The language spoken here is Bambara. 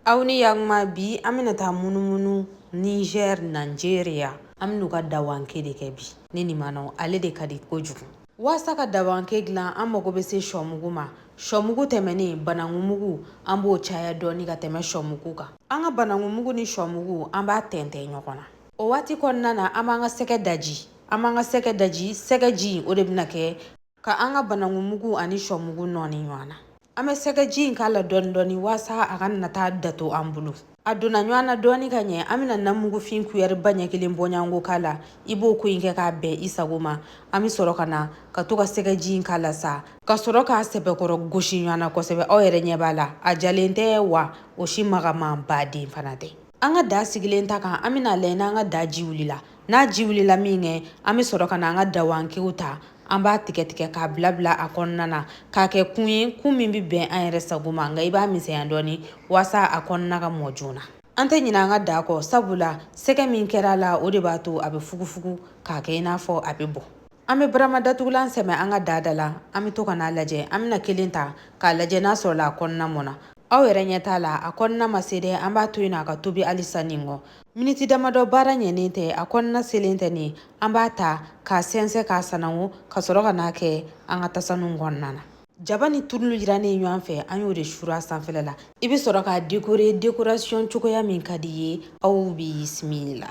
aw ni yakuma bi an bɛna taa munumunu niger nigeria an bɛn'u ka dawanke de kɛ bi ne ni manaw ale de ka di kojugu waasa ka dawanke dilan an mago bɛ se shɔmugu ma shɔmugu tɛmɛnen banangumugu an b'o caya dɔɔni ka tɛmɛ shɔmugu kan an ka banangumugu ni shɔmugu an b'a tɛntɛn ɲɔgɔn na o waati kɔnɔna na an b'an ka sɛgɛ daji an b'an ka sɛgɛ daji sɛgɛji o de bɛna kɛ Ka an ka banangumugu ani shɔmugu nɔɔni ɲɔgɔn na. An bɛ sɛgɛji in k'a la dɔɔni dɔɔni waasa a kana taa dato an bolo. A donna ɲɔgɔn na dɔɔni ka ɲɛ, an bɛna namugufin kuyɛriba ɲɛ kelen bɔɲɔgɔnko k'a la. I b'o ko in kɛ k'a bɛn i sago ma. An bɛ sɔrɔ ka na ka to ka sɛgɛji in k'a la sa. Ka sɔrɔ k'a sɛbɛkɔrɔ gosi ɲɔgɔn na kosɛbɛ. Aw yɛrɛ ɲɛ b'a la, a jalen tɛ wa o si magamanba de fana tɛ. an ka daga sigilen ta kan an bɛn'a lajɛ n'an ka daga ji wulila n'a ji wulila minkɛ an bɛ sɔrɔ ka na an ka dawankew ta an b'a tigɛ tigɛ k'a bila bila a kɔnɔna na k'a kɛ kun ye kun min bɛ bɛn an yɛrɛ sago ma nka i b'a misɛnya dɔɔni waasa a kɔnɔna ka mɔ joona an tɛ ɲinɛ an ka daga kɔ sabula sɛgɛ min kɛra a la o de b'a to a bɛ fugufugu k'a kɛ i n'a fɔ a bɛ bɔ an bɛ barama datugulan sɛmɛ an ka daga da la an bɛ to ka n'a lajɛ an bɛna kelen ta k'a lajɛ n'a sɔrɔla a kɔnɔna mɔna aw yɛrɛ ɲɛ t'a la a kɔnɔna ma se dɛ an b'a to yen na a ka tobi halisa nin kɔ miniti damadɔ baara ɲɛnen tɛ a kɔnɔna selen tɛ nin an b'a ta k'a sɛnsɛn k'a sanango ka sɔrɔ ka n'a kɛ an ka tasanu kɔnɔna na jaba ni turulu jirannen ɲɔgɔn fɛ an y'o de suuru a sanfɛla la i bɛ sɔrɔ k'a dekore dekorasiyɔn cogoya min ka d'i ye aw bisimila